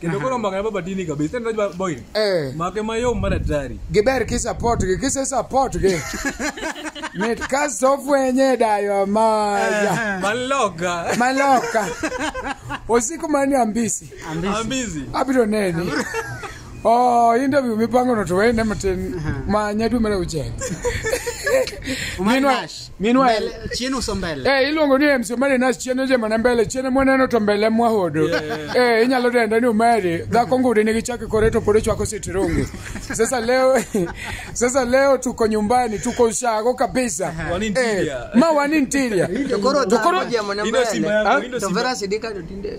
kendo koro mbaka na baba dini kabisa ndio baba boy Eh. make mayom mar atari giber kisupport gi kise support gi mit ka sofwenye dayo maya maloka maloka usiku mani ambisi ambizi abiro neni Oh, interview mipango no tuwene matin ma nyadu mele uchenga. Umari Minwa- Nash. Minwa Mbele, chien uso mbele. Eh, iluongo ni MC Omari Nas chien ojema na mbele chien mwaneno to mbele mwahodo. Eh, inyalo denda ni Omari dhako ngudi nigi chake kore to pore chwako sitirungi. Sasa leo sasa leo tuko nyumbani tuko ushago kabisa. Wan interior. Eh, ma wan interior. To koro To koro- dhano jemo na Ino simba mbele. yangu, ino To simba. Vera Sidika to tinde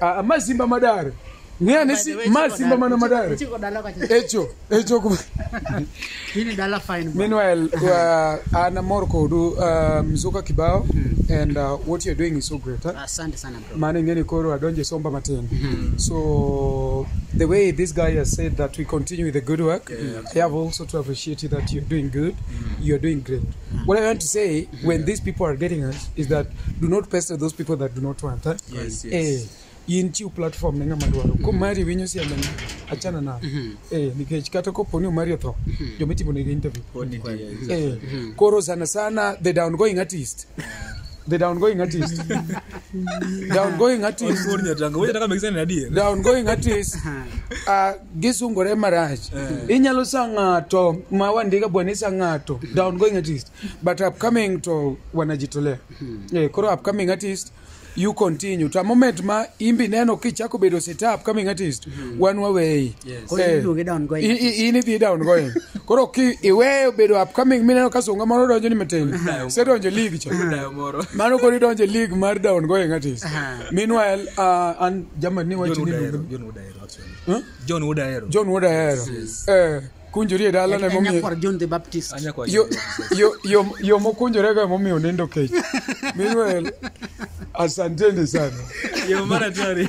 Ah, ah, mazimba madare ng'eyane si mazimba mana madare Chiko dala kacha. echo echo ku- Hili dala fine. bro. meanwhile uh, anamor kodu uh, mzuka kibao and uh, what you're doing is so great huh? Asante sana bro. mane ing'eni koro adonje somba matin so the way this guy has said that we continue with the good work i have also to appreciate you that you're doing good you're doing great what i want to say when these people are getting us is that do not pester those people that do not want eh? Yes, yes. Eh, in chiw platform ne ng'ama dwaro komari winyo siembe ni achana na eh, nikech kata kopo ni omari otho joma itimo negi interview Pod itiyo. eh, koro sana sana the downgoing artist the downgoing artist downgoing artist Pod nyatanga. Wewe nataka mekisana na adier. downgoing artist uh, gisungore marach inyalo sa ng'ato ma wandika bwana isa ng'ato downgoing artist but upcoming to wanajitolea eh, koro upcoming artist you continue to a moment ma imbi neno kichako bedo sita upcoming artist wan waweyi Yes. Koro Eh, iluonge down going. i- i- in idhi down going koro ki iweyo bedo upcoming mineno ka sunga moro donjo ni matin sedonjo league cha Dayo moro. mano koro idonjo league mar down going artist Aha. meanwhile uh, an jamani John wacho ni Wood Ahero. John Wood Ahero actually. Huh? John Wood Ahero. john wood ahero eh kunjori e dalano En emomiyo nyakwar John the Baptist. Anya kwa yo- yo- yo- yo mokunjorego emomiyo nindo kech meanwhile asanteni sana Yo mara tari.